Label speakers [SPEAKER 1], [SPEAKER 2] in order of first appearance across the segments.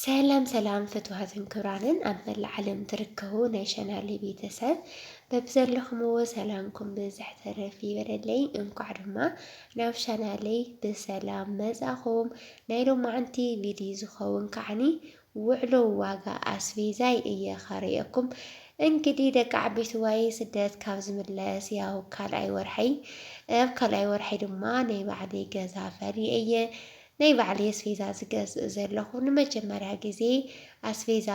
[SPEAKER 1] ሰላም ሰላም ፍትዋትን ክብራንን ኣብ መላእ ዓለም ትርከቡ ናይ ሸናሊ ቤተሰብ በብዘለኹምዎ ሰላምኩም ብዝሕ ተረፍ ይበለለይ። እንኳዕ ድማ ናብ ሸናለይ ብሰላም መጻኹም። ናይ ሎማዓንቲ ቪድዮ ዝኸውን ከዓኒ ውዕሎ ዋጋ ኣስቤዛይ እየ ኸርእየኩም። እንግዲህ ደቂ ዓበይቲ ዋይ ስደት ካብ ዝምለስ ያው ካልኣይ ወርሐይ ኣብ ካልኣይ ወርሐይ ድማ ናይ ባዕለይ ገዛ ፈሪ እየ ናይ ባዕለይ ኣስፌዛ ዝገዝእ ዘለኹ ንመጀመርያ ግዜ ኣስፌዛ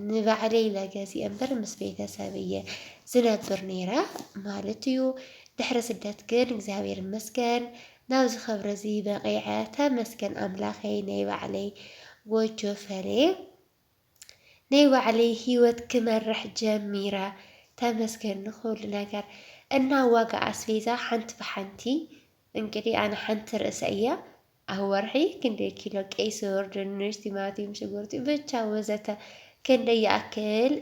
[SPEAKER 1] ንባዕለይ ኢለ ገዚኤ እምበር ምስ ቤተሰብ እየ ዝነብር ነይረ ማለት እዩ። ድሕሪ ስደት ግን እግዚኣብሔር ይመስገን ናብዚ ክብሪ እዚ በቒዐ ተመስገን ኣምላኸይ ናይ ባዕለይ ጎጆ ፈልየ። ናይ ባዕለይ ሂወት ክመርሕ ጀሚረ ተመስገን ንኹሉ ነገር እና ዋጋ ኣስቤዛ ሓንቲ ብሓንቲ እንግዲህ ኣነ ሓንቲ ርእሰ እያ ኣብ ወርሒ ክንደይ ኪሎ ቀይ ስር ድንሽ ቲማቲም ሽጉርቲ ብቻ ወዘተ ክንደይ ይኣክል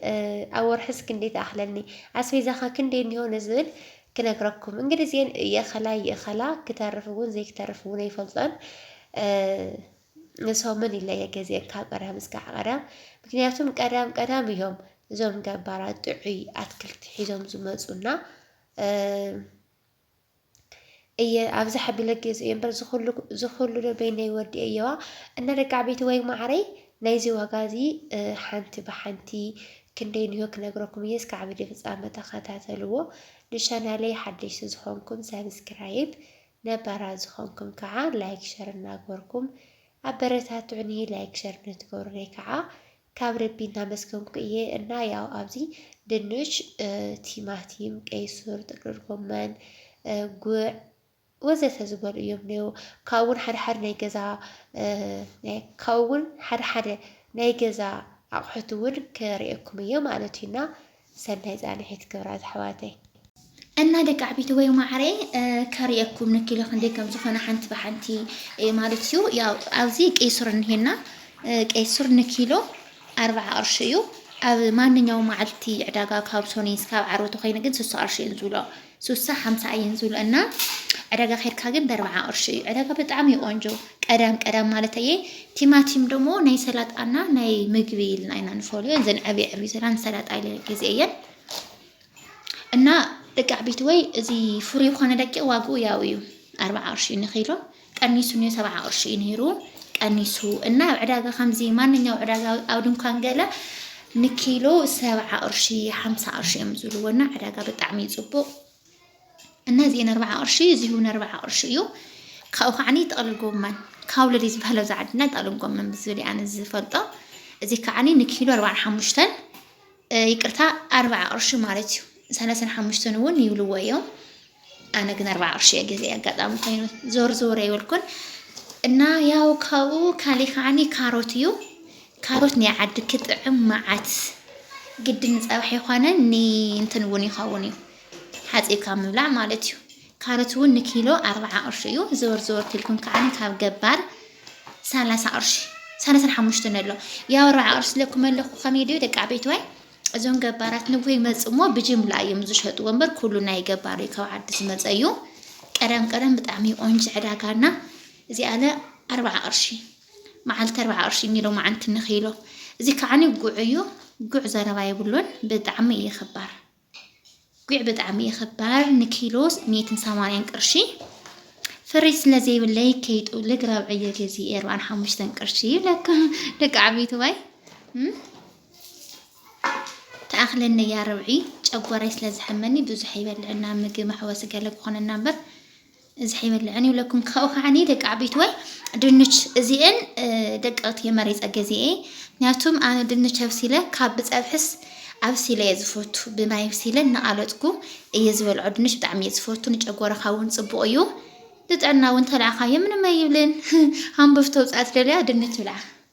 [SPEAKER 1] ኣብ ወርሕስ ክንደይ ትኣኽለኒ ኣስቤዛኻ ክንደይ እኒሆ ንዝብል ክነግረኩም እንግዲህ እዚአን የኸላ ይእኸላ ክተርፍ እውን ዘይክተርፍ እውን ኣይፈልጦን ሰሙን ይለየ ገዜ ካብ ቀዳም እስካዕ ቀዳም ምክንያቱም ቀዳም ቀዳም እዮም እዞም ገባራት ጥዑይ ኣትክልቲ ሒዞም ዝመፁና እየ ኣብዚ ሓቢለ ገዝ እየ እምበር ዝኩሉ ዶ በይነይ ወዲ እየዋ እና ደቂ ዓበይቲ ወይ ማዕረይ ናይዚ ዋጋ እዚ ሓንቲ ብሓንቲ ክንደይ ንዮ ክነግረኩም እየ እስካዕ ቪድዮ ፍፃመ ተኸታተልዎ ንቻናለይ ሓደሽቲ ዝኾንኩም ሰብስክራይብ ነባራት ዝኮንኩም ካዓ ላይክ ሸር እናግበርኩም ኣበረታትዑኒ ላይክ ሸር ንትገብሩለይ ካዓ ካብ ልቢ እናመስገንኩ እየ እና ያው ኣብዚ ድንች ቲማቲም ቀይሱር ጥቅልል ጎመን ጉዕ ወዘተ ዝበሉ እዮም ነይሩ ካብኡ እውን ሓደ ሓደ ናይ ገዛ ካብኡ እውን ሓደ ሓደ ናይ ገዛ ኣቑሑት እውን ክርእየኩም እየ ማለት እዩና ሰናይ ጻንሒት ክብራት ኣሕዋተይ። እና ደቂ
[SPEAKER 2] ዓቢተወይ ማዕረይ ከርእየኩም ንኪሎ ክንደይ ከም ዝኾነ ሓንቲ ብሓንቲ ማለት እዩ ያው ኣብዚ ቀይ ሱር እንሄና ቀይ ሱር ንኪሎ ኣርባዓ ቅርሺ እዩ ኣብ ማንኛውም መዓልቲ ዕዳጋ ካብ ሶኒ ስካብ ዓርቢ ተኮይኑ ግን ስሳ ቅርሺ እዩ ዝብሎ ሱሳ ሓምሳ እየን ዝብሉ እና ዕዳጋ ኬድካ ግን በርብዓ ቅርሺ እዩ ዕዳጋ ብጣዕሚ ቆንጆ ቀዳም ቀዳም ማለት እየ ቲማቲም ደሞ ናይ ሰላጣና ናይ ምግቢ ኢልና ኢና ንፈልዮ እዘን ዕብይ ዕብይ ዘላ ንሰላጣ ኢለ ግዜ እየን እና ደቂ ዓበይቲ ወይ እዚ ፍሩይ ኮነ ደቂቕ ዋግኡ ያው እዩ ኣርብዓ ቅርሺ እዩ ንኪሎ ቀኒሱ ኔሩ ሰብዓ ቅርሺ እዩ ኔሩ ቀኒሱ እና ኣብ ዕዳጋ ከምዚ ማንኛው ዕዳጋ ኣብ ድንኳን ገለ ንኪሎ ሰብዓ ቅርሺ ሓምሳ ቅርሺ እዮም ዝብልዎ እና ዕዳጋ ብጣዕሚ እዩ ፅቡቅ እና እዚ ነርባዓ ቅርሺ እዚ እውን ነርባዓ ቅርሺ እዩ ካብኡ ከዓኒ ጥቕልል ጎመን ካውለድ እዩ ዝበሃለው እዚ ዓድና ጥቕልል ጎመን ብዝብል ኣነ ዝፈልጦ እዚ ከዓኒ ንኪሎ ኣርባዓን ሓሙሽተን ይቅርታ ኣርብዓ ቅርሺ ማለት እዩ ሰለሰን ሓሙሽተን እውን ይብልዎ እዮም ኣነ ግን ኣርብዓ ቅርሺ እየ ገዜ ኣጋጣሚ ኮይኑ ዞር ዞር ኣይበልኩን እና ያው ካብኡ ካሊእ ከዓኒ ካሮት እዩ ካሮት ናይ ዓዲ ክጥዕም መዓት ግድን ፀብሒ ይኾነን ንእንትን እውን ይኸውን እዩ ሓፂብካ ምብላዕ ማለት እዩ ካሮት እውን ንኪሎ ኣርብዓ ቅርሺ እዩ። ዘወር ዘወር ኢልኩም ከዓኒ ካብ ገባር ሰላሳ ቅርሺ ሰላሳን ሓሙሽተን ኣሎ ያው ኣርብዓ ቅርሺ ዝለኩም ኣለኹ ከመይ ድዩ ደቂ ዓበይትዋይ እዞም ገባራት ንጉሆ ይመፅእ እሞ ብጅምላ እዮም ዝሸጥዎ እምበር ኩሉ ናይ ገባር እዩ ካብ ዓዲ ዝመፀ እዩ። ቀደም ቀደም ብጣዕሚ ቆንጆ ዕዳጋና እዚኣለ ኣርብዓ ቅርሺ መዓልቲ ኣርብዓ ቅርሺ ኒሎ መዓንቲ ንኺሎ እዚ ከዓኒ ጉዕ እዩ ጉዕ ዘረባ የብሉን ብጣዕሚ እዩ ኽባር ጒዕ ብጣዕሚ እየ ኽባር ንኪሎ ሚእትን ሰማንያን ቅርሺ ፍሪጅ ስለ ዘይብለይ ከይጥውልግ ራብዕ እየ ገዚኤ ኣርባዓን ሓሙሽተን ቅርሺ ይብለካ ደቂ ዓበይቲ ዋይ ተኣኽለኒ እያ ርብዒ ጨጓራይ ስለ ዝሐመኒ ብዙሕ ኣይበልዕና ምግቢ መሕወሲ ገለ ክኾነና እምበር እዚ ሐይበልዕን ይብለኩም ካብኡ ከዓኒ ደቂ ዓበይትዋይ ድንች እዚኤን ደቀቕቲ እየ መሪፀ ገዚኤ ምክንያቱም ኣነ ድንች ኣብሲለ ካብ ብፀብሕስ ኣብሲለ እየ ዝፈቱ ብማይ ኣብሲለ እናቓለጥኩ እየ ዝበልዖ ድንች ብጣዕሚ እየ ዝፈቱ ንጨጎራኻ እውን ፅቡቕ እዩ ንጥዕና እውን ተልዕኻዮ ምንም ኣይብልን ሃምቦፍ ተውፅኣ ትደልያ ድንች ብልዓ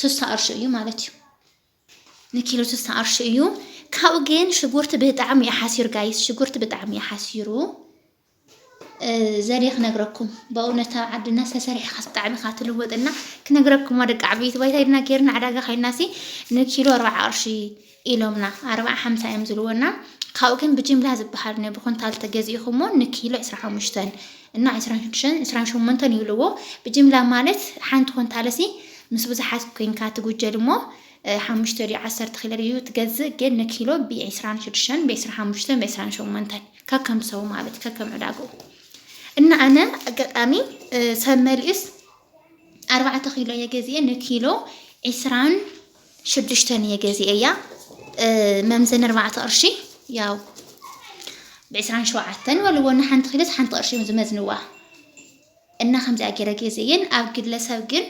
[SPEAKER 2] ስሳ ቅርሺ እዩ ማለት እዩ ንኪሎ ስሳ ቅርሺ እዩ ካብኡ ግን ሽጉርቲ ብጣዕሚ እዩ ሓሲሩ ጋይስ ሽጉርቲ ብጣዕሚ እዩ ሓሲሩ ዘዴ ክነግረኩም በእውነት ኣብ ዓድና ዝተሰሪሕካ ብጣዕሚ ኢኻ ትልወጥና ክነግረኩም ደቂ ዓበይቲ ባይታ ኢድና ጌርና ዕዳጋ ከይድና ሲ ንኪሎ ኣርባዓ ቅርሺ ኢሎምና ኣርብዓ ሓምሳ እዮም ዝልወና ካብኡ ግን ብጅምላ ዝበሃል ን ብኩንታል ተገዚኢኩሞ ን ኪሎ ዕስራን ሓሙሽተን እና ዕስራን ሽዱሽተን ዕስራን ሸሞንተን ይብልዎ ብጅምላ ማለት ሓንቲ ኩንታልሲ ምስ ብዙሓት ኮይንካ ትጉጀል እሞ ሓሙሽተ ድዩ ዓሰርተ ኪሎ ድዩ ትገዝእ ግን ን ኪሎ ብ ዕስራን ሽዱሽተን ብ ዕስራን ሓሙሽተን ብ ዕስራን ሸሞንተን ከከም ሰው ማለት ከከም ዕዳግኡ እና ኣነ ኣጋጣሚ ሰብ መሊኡስ ኣርባዕተ ኪሎ እየ ገዚኤ ን ኪሎ ዕስራን ሽዱሽተ ንየ ገዚኤያ መምዘኒ ኣርባዕተ ቅርሺ ያው ብዕስራን ሸውዓተን በልዎ እና ሓንቲ ኪሎስ ሓንቲ ቅርሺ እዮም ዝመዝንዋ እና ከምዚኣ ገይረ ገዜየን ኣብ ግለሰብ ግን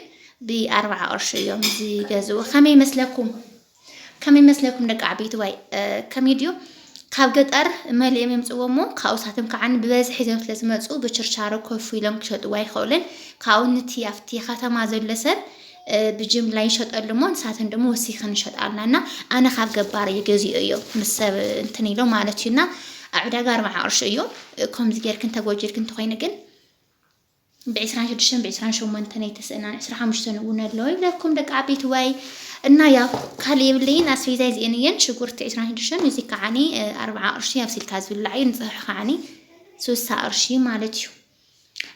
[SPEAKER 2] ብኣርባዓ ቅርሺ እዮም ዝገዝኡ ከመይ መስለኩም ከመይ መስለኩም ደቂ ዓበይቲ ዋይ ከመይ ድዩ ካብ ገጠር መሊኦም የምጽዎ እሞ ካብኡ ሳቶም ከዓ ብበዝሒ ሒዞም ስለ ዝመጹ ብችርቻሮ ኮፍ ኢሎም ክሸጥዎ ኣይኸእሉን ካብኡ ንቲ ኣብቲ ከተማ ዘሎ ሰብ ብጅምላ ይሸጠሉ እሞ ንሳተን ደሞ ወሲኸን ይሸጣልና እና ኣነ ካብ ገባር እዩ ገዚኦ እዮ ምስ ሰብ እንትን ኢሎ ማለት እዩና ኣብ ዕዳጋ ኣርባዓ ቅርሺ እዩ ከምዚ ጌርክን ተጎጂልክን እንተኮይኑ ግን ብዕስራን ሽዱሽተን ብዕስራን ሸሞንተን ኣይተስእናን ዕስራ ሓሙሽተን እውን ኣሎ ይብለኩም ደቂ ዓበይትዋይ እና ያው ካልእ የብለይን ኣስቤዛይ እዚኤን እየን ሽጉርቲ ዕስራን ሽዱሽተን እዚ ከዓኒ ኣርብዓ ቅርሺ ኣብሲልካ ዝብላዕ እዩ ንፅሑሕ ከዓኒ ስሳ ቅርሺ ማለት እዩ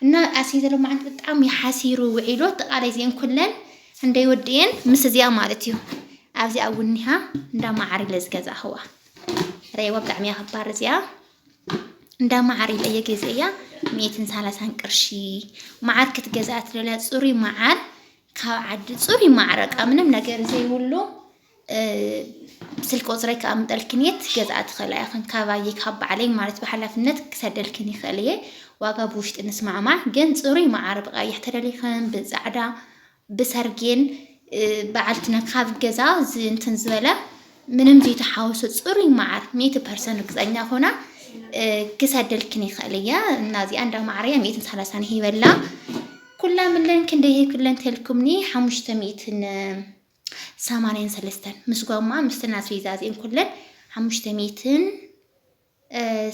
[SPEAKER 2] እና ኣስቤዛ ሎማዓንቲ ብጣዕሚ ሓሲሩ ውዒሉ ኣጠቃላይ እዚኤን ኩለን እንደይ ወዲኤን ምስ እዚኣ ማለት እዩ ኣብዚኣ እውን እኒሃ እንዳ መዓር ኢለ ዝገዛእኽዋ ረእይዋ ብጣዕሚ እያ ክባር እዚኣ እንዳ መዓር ኢለ እየ ገዚኤያ ሚእትን ሰላሳን ቅርሺ መዓር ክትገዝኣ ትደልያ ፅሩይ መዓር ካብ ዓዲ ፅሩይ መዓር በቃ ምንም ነገር ዘይብሉ እ፣ ስልኪ ቁፅረይ ከኣምጠልክን እየ ትገዝኣ ትኽእላ ኢኽን ካባየ ካብ ባዕለይ ማለት ብሓላፍነት ክሰደልክን ይኽእል እየ ዋጋ ብውሽጢ ንስማዕማዕ ግን ፅሩይ መዓር ብቀይሕ ተደሊኽን ብፃዕዳ ብሰርጌን በዓልትነ ካብ ገዛ እንትን ዝበለ ምንም ዘይተሓወሶ ፅሩይ መዓር ሚእቲ ፐርሰንት ርግፀኛ ኮና ክሰደልክን ይኽእል እየ እና እዚኣ እንዳ ማዕረያ ሚእትን ሰላሳን ሂበላ ኩላ ምለን ክንደይ ኩለን ተልኩምኒ ሓሙሽተ ሚእትን ሰማንያን ሰለስተን ምስ ጓማ ምስትን ኣስቤዛ እዚአን ኩለን ሓሙሽተ ሚእትን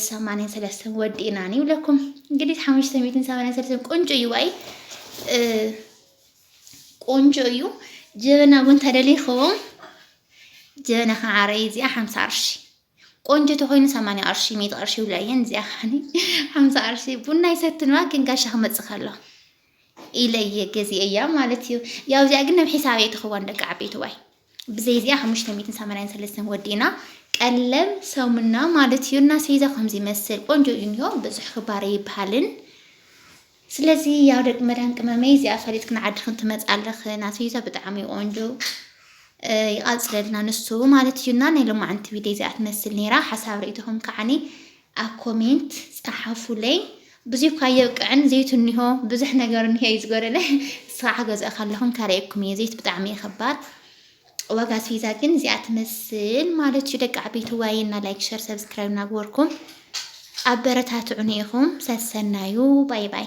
[SPEAKER 2] ሰማንያን ሰለስተን ወዲእናን ይብለኩም እንግዲህ ሓሙሽተ ሚትን ሰማንያን ሰለስተን ቆንጆ እዩ ዋይ ቆንጆ እዩ ጀበና እውን ተደሊኹም ጀበና ከዓ ዓረይ እዚኣ ሓምሳ ቅርሺ ቆንጆ ተኮይኑ ሰማንያ ቅርሺ ሚት ቅርሺ ይብላ እየን እዚኣ ከዓ ሓምሳ ቅርሺ ቡና ይሰትንዋ ግን ጋሻ ክመፅእ ከሎ ኢለየ ገዚኤያ ማለት እዩ ያው እዚኣ ግን ናብ ሒሳብ ኣይትኽዋን ደቂ ዓበይቲ ዋይ ብዘይ እዚኣ ሓሙሽተ ሚእትን ሰማንያን ሰለስተን ወዲእና ቀለም ሰሙና ማለት እዩ እና ስሒዛ ከምዚ ይመስል ቆንጆ እዩ እንዮ ብዙሕ ክባረ ይበሃልን ስለዚ ያው ደቂ መዳን ቅመመይ እዚኣ ፈሊጥክን ዓድኽን ትመፃለኽ ናስሒዛ ብጣዕሚ ቆንጆ ይቐፅለልና ንሱ ማለት እዩና ናይ ሎማዓንቲ ቪድዮ እዚኣ ትመስል ነይራ ሓሳብ ርእይቶኹም ከዓኒ ኣብ ኮሜንት ጸሓፉለይ ብዙይኳ የብቅዕን ዘይቱ እኒሆ ብዙሕ ነገር እኒሆ እዩ ዝጎደለ እስኻ ሓገዝኦ ካለኹም ካርየኩም እየ ዘይት ብጣዕሚ እዩ ከባድ ዋጋ ኣስቤዛ ግን እዚኣ ትመስል ማለት እዩ ደቂ ዓበይቲ ዋይ እና ላይክ ሸር ሰብስክራይብ እናግበርኩም ኣበረታትዑኒ ኢኹም ሰሰናዩ ባይ ባይ